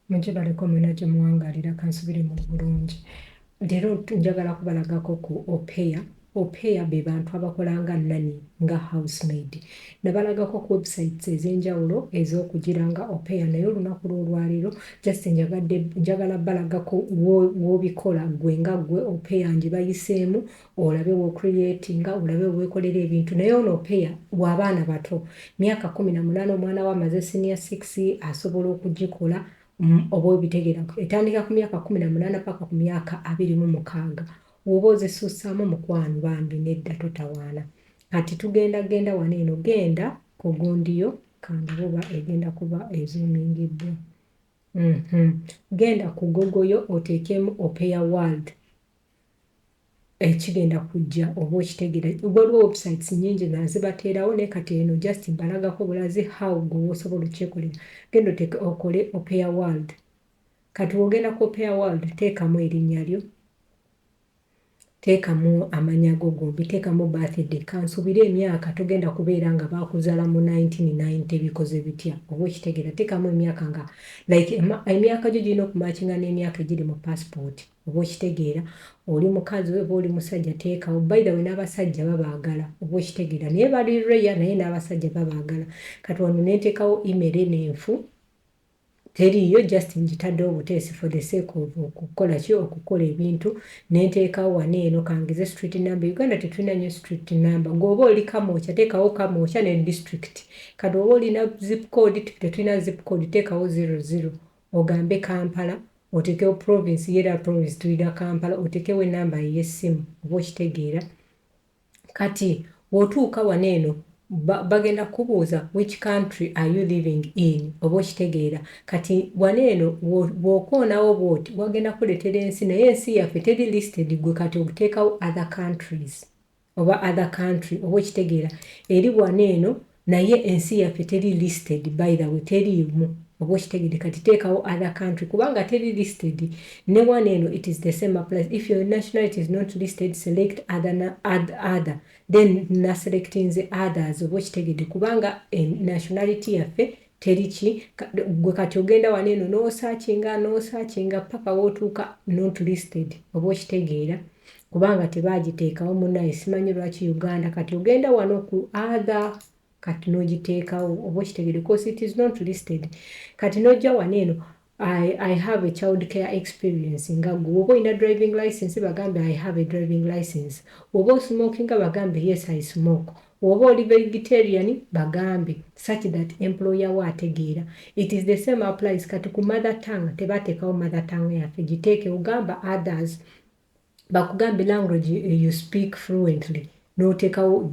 mugibaleko mwena gye muwangalira kansubire mu bulungi leero njagala kubalagako ku opeya opeya be bantu abakola nga nani nga housemaid Nabalagako ku websites ezenjawulo ezokugira nga opea naye olunaku lwolwaleero just njagadde njagala balagako wobikola gwe nga gwe opea njibayiseemu olabe wo creatinga olabe wewekolera ebintu naye ono opea wabaana bato myaka kumi na munana omwana we amaze senior six asobola okugikola mm, oba obitegera etandika ku myaka kumi na munana paka ku myaka abiri mu mukaaga woba ozisuusaamu mukwano bambi nedda totawaana Kati tugenda genda wano eno genda ku gundiyo kangabuba egenda kuba ezumingiddwa mm -hmm. genda ku gogoyo oteekemu opeya world ekigenda eh, kujja oba okitegera waliwo websites nyingi nga zibateerawo naye kati eno just mbalagako bulazi how gwewosobola okyekolera genda oteeke okole opeya world kati wogenda ku opeya world teekamu erinnya lyo Teekamu amanya go gombi, teekamu birthday, kansubire emyaka togenda kubeera nga baakuzala mu 1990 bikoze bitya oba okitegeera teekamu emyaka nga like emyaka gyo girina okumakinga n'emyaka egiri mu passport oba okitegeera oli mukazi oba oli musajja teekawo by the way n'abasajja babaagala oba okitegeera naye bali reya naye n'abasajja babaagala kati wano nenteekawo email eno enfu Teriiyo just njitadde obuteesi for the sake of okukola ki okukola ebintu nenteekawo wano eno kangize street number Uganda tetulina nyo street number gwe oba oli Kamwokya teekawo Kamwokya ne district kati oba olina zip code tetulina zip code teekawo zero zero ogambe Kampala otekewo province ye era province tulina Kampala otekewo enamba yo eyessimu oba okitegeera Kati bwotuuka wano eno bagenda kukubuuza which country are you living in oba okitegeera kati wano eno bwokoonawo bwoti wagenda kukuletera ensi naye ensi yaffe teri listed gwe kati okuteekawo other countries oba other country oba okitegeera eri wano eno Naye ensi yaffe teri listed by the way teriimu oba okitegedde kati teekawo other country kubanga teri listed newano eno it is the same applies if your nationality is not listed select other other then naselectinze others oba okitegedde kubanga nationality yaffe Teri ki, gwe kati ogenda wano eno n'osakinga n'osakinga paka wotuuka not listed oba okitegeera kubanga tebagiteekawo munaye simanyi lwaki Uganda kati ogenda wano ku other kati nogiteekawo oba okitegere cos it is not listed kati nojja wano eno I, I have a child care experience nga gwe woba olina driving license bagambe I have a driving license woba osmokinga bagambe yes I smoke woba oli vegetarian bagambe such that employer wo ategeera it is the same applies kati ku mother tongue tebatekawo mother tongue yaffe giteeke ogamba others bakugambye language you speak fluently notekawo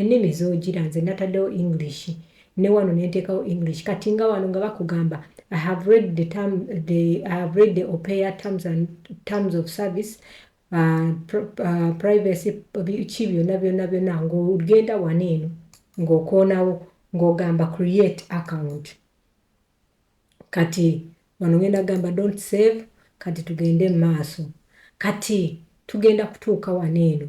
enimi zojira nze natadewo english ne wano nentekawo english kati nga wano nga bakugamba i have read the term the i have read the opea terms and terms of service uh, pr uh, privacy ki byona byona byona ngogenda wano eno ngokonawo ngogamba create account kati wano ngenda gamba don't save kati tugende maaso kati tugenda kutuuka wano eno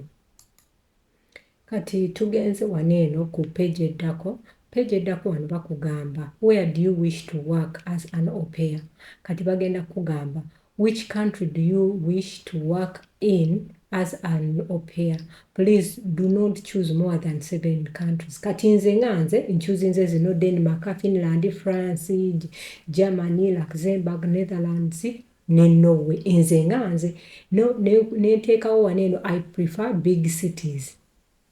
kati tugenze wano eno ku page eddako page eddako wano bakugamba where do you wish to work as an opea kati bagenda kugamba Which country do you wish to work in as an au pair please do not choose more than seven countries kati nze nga nze nchuzinze zino denmark finland france germany luxembourg netherlands ne norway nze nga nze nenteekawo wano eno i prefer big cities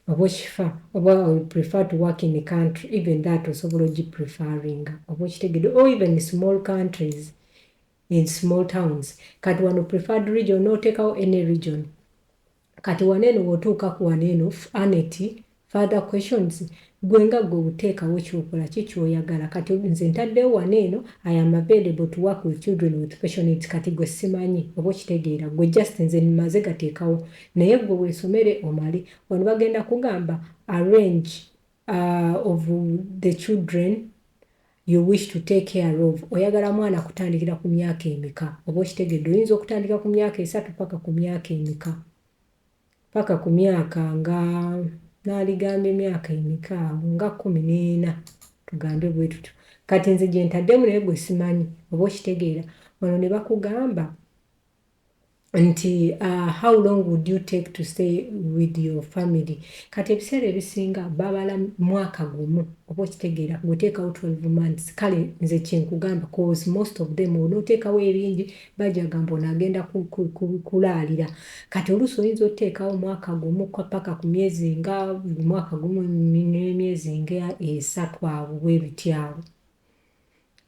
oba okifa oba i prefer to work in country even that osobola ogipreferinga oba okitegede or even small countries in small towns kati wano preferred region notekawo any region kati wano eno wotuuka ku wano eno anet further questions gwe nga gwe uteekawo kyokola ki kyoyagala kati nze ntaddewo wano eno i am available to work with children with special needs kati gwe simanyi oba okitegeera gwe just nze maze gateekawo naye gwe wesomere omale wano bagenda kugamba arrange Aah of the children you wish to take care of oyagala mwana kutandikira ku myaka emeka oba okitegedde oyinza okutandika ku myaka esatu paka ku myaka emeka paka ku myaka nga naligamba emyaka emeka awo nga kumi n'ena tugambe bwe tutyo kati nze gyentaddemu naye gwe simanyi oba okitegeera wano ne bakugamba nti uh, how long would you take to stay with your family kati ebiseera ebisinga babala mwaka gumu oba okitegeera gweteekawo 12 months kale nze kyenkugamba cause most of them onoteekawo ebingi bajagamba onagenda kulaalira kati oluusi oyinza oteekawo mwaka gumu paka ku myezi nga mwaka gumu nemyezi nga esatu awo bwebityawo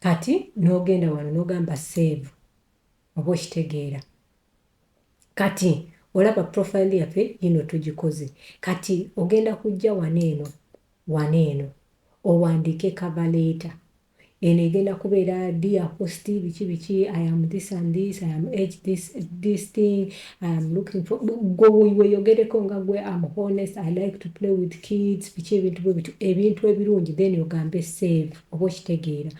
kati nogenda wano nogamba save Oba okitegeera Kati olaba profile yaffe yino tugikoze Kati ogenda kujja wano eno wano eno owandiike cover letter eno egenda kubeera dear host biki biki I am this and this I am age this this thing I am looking for gwe weyogereko nga gwe I am honest I like to play with kids biki ebintu bwe bitu ebintu ebirungi then ogambe save oba okitegeera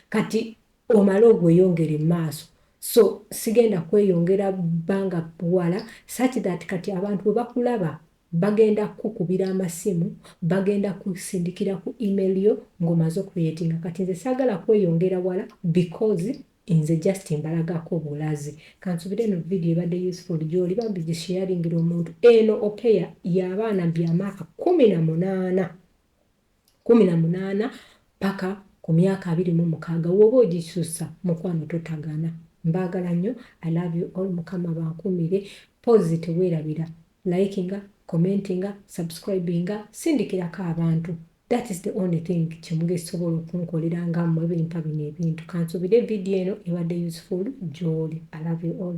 Kati omale ogweyongere maaso so sigenda kweyongera banga wala such that kati abantu bwebakulaba bagenda kukubira amasimu bagenda kusindikira ku email yo ngo maze okureyetinga kati nze sagala kweyongera wala because nze just mbalagako bulazi kansubire eno video ebadde useful gyoli bambi gisharingira omuntu eno opeya yabaana byamaaka kumi na munaana kumi na munana paka ku myaka abiri mu mukaga woba ojisusa mukwano totagana mbagala nyo I love you all mukama abankumire mpozi tewerabira likinga commentinga subscribinga sindikirako abantu that is the only thing kyemugesobola okunkolera nga mwe bimpa bino ebintu kansubire video eno ebadde useful gyoli I love you all